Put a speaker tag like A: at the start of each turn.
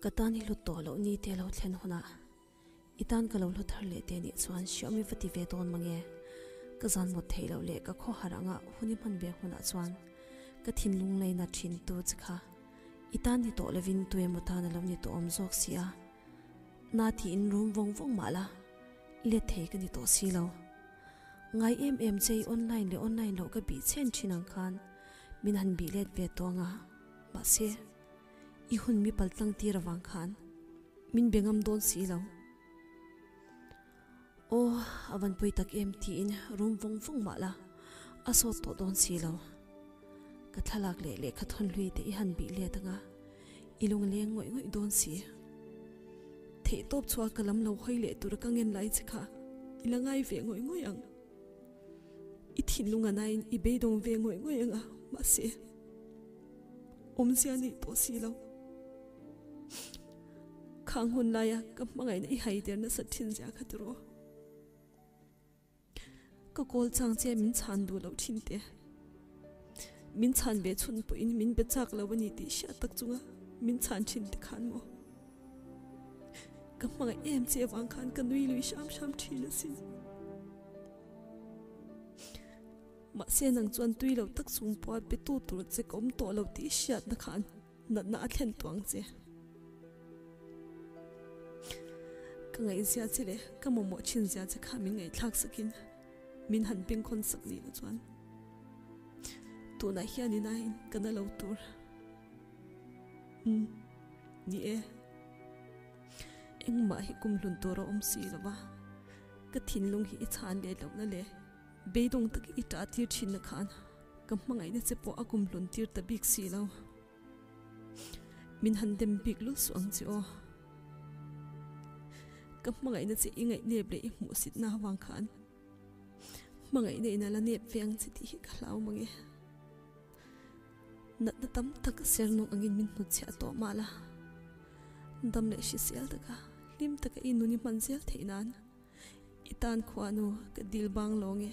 A: Ka tan hi hlut tawh loh ni teh lo thlen hunah i tan ka lo hlu thar leh teh nih chuan hriam i va ti ve dawn mange. Ka zan mawt theih loh leh ka khawhar anga hun i hman ve hunah chuan ka thinlung laina thintu chi kha i tan ni tawh lovin tui emaw tan a lo ni tawh awm zawk si a, na tiin rum vawng vawng mah la let thei ka ni tawh si lo. Ngai em em che i online leh online loh ka bih chen thin ang khan. Min han bih let ve tawh anga, mahse, i hun mi pal tlangtir avang khan min be ngam dawn si lo. Aw, a van pawi tak em tiin rum vawng vawng mah la, a sawt tawh dawn si lo. Ka thlalak leh lehkha thawn hlui te i han bih let anga, i lung leng ngawih ngawih dawn si. Theihtawp chhuah ka lam lo hawi leh tur ka ngen lai che kha i la ngai ve ngawih ngawih ang. I thinlung a nain i beidawng ve ngawih ngawih anga mahse awmzia nih pawh si lo. Khang hun laia ka hmangaihna i haiter nasa thin zia kha tur aw. Ka kawl chang che min chhan duh loh thin te. Min chhan ve chhun pawhin min be chak lo a ni tih hriat tak chunga min chhan thin te khan maw ka hmangaih em che avang khan ka nui lui hram hram thin a si. Mahse nang chuan tui lo tak sum pawha be tu tur che ka awm tawh lo tih hriat na khan natna a thlen tuang che. Ka ngaihzia che leh ka mawmawh thinzia che kha min ngaih thlak sakin. Min han pengkhawn sak zin a chuan tunah hian ina in ka na lo tur umm ni e. Engmah hi kum hlun tur a awm si lova ka thinlung hi i chhan leh loh la le beidawng takin i ṭah tir ṭhinna khan ka hmangaihna che pawh a kum hlun tir ta bik si lo. Min han dem bik lul suh ang che aw. Ka hmangaihna che i ngaihnep leh i hmuhsitna avang khan hmangaihna in ala nep ve ang che tih hi ka hlau mang e. Natna tam tak ka ser nawk angin min hnut chhiah tawh mah la. Dam leh hrisel taka hlim taka i nun i hman zel theih nan i tan khua nu ka dil bang lo nge.